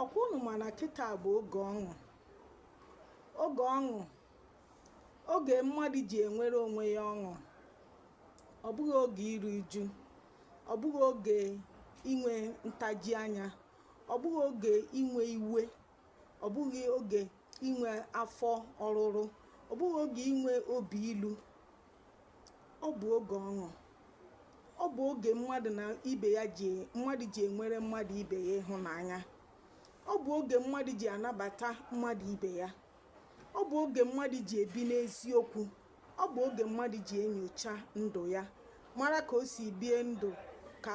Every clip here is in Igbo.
ọkwa unu ma na kịta bụ oge ọṅụ oge ọṅụ oge mmadụ ji enwere onwe ya ọṅụ ọ bụghị oge iru uju ọ bụghị oge inwe ntaji anya ọ bụghị oge inwe iwe ọ bụghị oge inwe afọ ọrụrụ ọ bụghị oge inwe obi ilu ọ bụ oge ọṅụ ọ bụ oge mmadụ na ibe ya ji mmadụ ji enwere mmadụ ibe ya ịhụnanya ọ bụ oge mmadụ ji anabata mmadụ ibe ya ọ bụ oge mmadụ ji ebi n'eziokwu ọ bụ oge mmadụ ji enyocha ndụ ya mara ka o si bie ndụ ka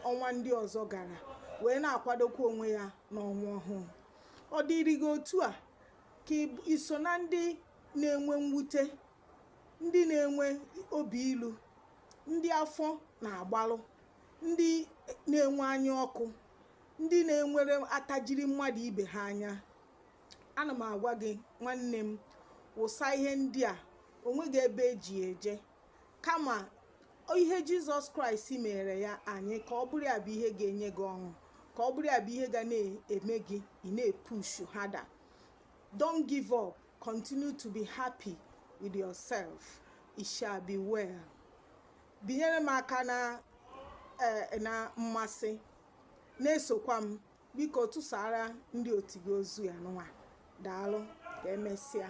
ọnwa ndị ọzọ gara wee na-akwadokwa onwe ya n'ọnwa ọhụụ ọ dịrị gị otu a ka i so na ndị na-enwe mwute ndị na-enwe obi ilu ndị afọ na-agbarụ ndị na-enwe anya ọkụ ndị na-enwere atajiri mmadụ ibe ha anya ana m agwa gị nwanne m wụsa ihe ndị a o nweghị ebe e ji eje kama ihe jizọs kraịst mere ya anyị ka ọ bụrụ ya bụ ihe ga-enye gị ọṅụ ka ọ bụrụ ya bụ ihe ga na-eme gị ị na-epushu harder don't give up Continue to be happy with yourself. It shall be well. Binyere m aka na mmasị na-esokwa m biko tụsara ndị otu gị ozi a nwa daalụ ka emesịa